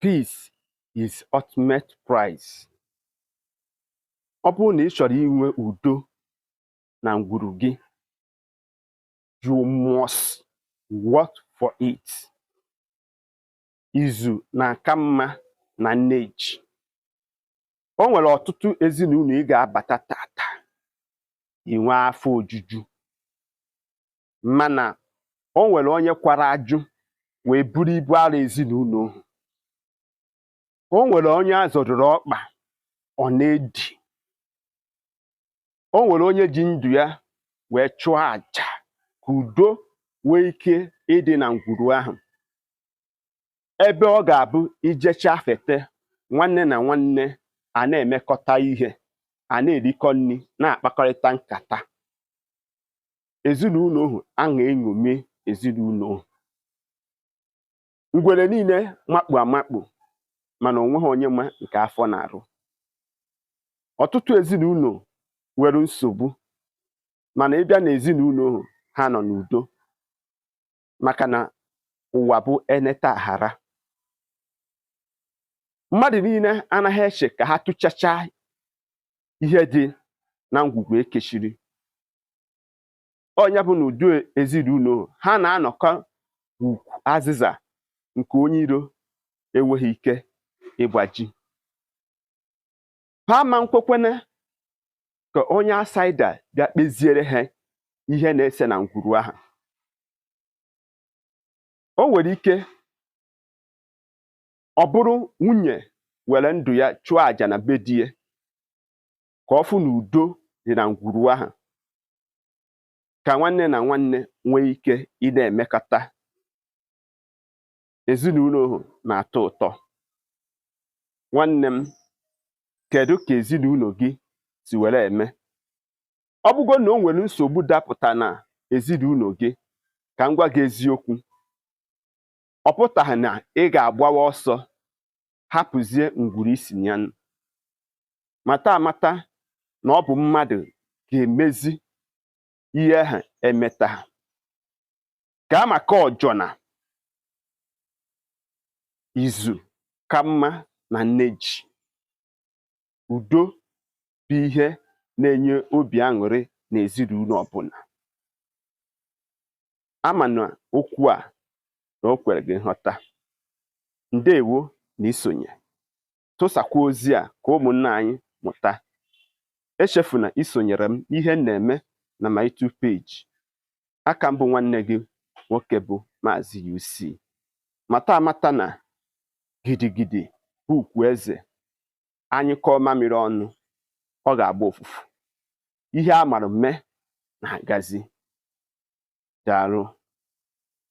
peace is ultimate prize ọ bụrụ na ị chọrọ inwe udo na ngwuru gị you must work for it izu na-aka mma na nne ji o nwere ọtụtụ ezinụlọ ị ga-abata tata i nwee afọ ojuju mana o nwere onye kwara ajụ wee buru ibu arọ ezinụlọ ahụ o nwere onye a zọdoro ọkpa ọ na-edi o nwere onye ji ndụ ya wee chụọ aja ka udo nwee ike ịdị na ngwuru ahụ ebe ọ ga-abụ i jechaa fete nwanne na nwanne a na-emekọta ihe a na-erikọ nri na-akpakọrịta nkata ezinụlọ ahụ a na-eṅomi ezinụlọ ahụ ngwere niile makpu amakpu mana o nweghị onye ma nke afọ na-arụ ọtụtụ ezinụlọ nwere nsogbu mana ị bịa na ezinụlọ ahụ ha nọ n'udo maka na ụwa bụ eneta aghara mmadụ niile anaghị eche ka ha tụchacha ihe dị na ngwugwu e kechiri ọ nya bụ na ụdị ezinụlọ ha na-anọkọ ukwu azịza nke onye iro enweghị ike ịgbaji ha ama nkwekwene ka onye outsider bịa kpeziere ha ihe na-ese na ngwuru ahụ o nwere ike ọ bụrụ nwunye were ndụ ya chụọ àjà na be di ya ka ọ fụ na udo dị na ngwuru ahụ ka nwanne na nwanne nwee ike ịna-emekọta ezinụlọ ahụ na-atọ ụtọ nwanne m kedu ka ezinụlọ gị si were eme ọ bụgo na o nwere nsogbu dapụta na ezinụlọ gị ka m gwa gị eziokwu ọ pụtaghị na ị ga-agbawa ọsọ hapụzie ngwuru i si na ya nọ. mata amata na ọ bụ mmadụ ga-emezi ihe ahụ e meta ha ga-amaka ọjọ na izu ka mma na nne ji udo bụ ihe na-enye obi aṅụrị n'ezinụlọ ọbụla ama na okwu a na o kwere gị nghọta ndewo na isonye tụsakwa ozi a ka ụmụnna anyị mụta echefuna isonyere m ihe m na-eme na my YouTube page aka m bụ nwanne gị nwoke bụ Maazị UC mata amata na gidigidi bụ ugwu eze a nyụkọọ mamịrị ọnụ ọ ga-agba ụfụfụ ihe a mara mme na-agazi daalụ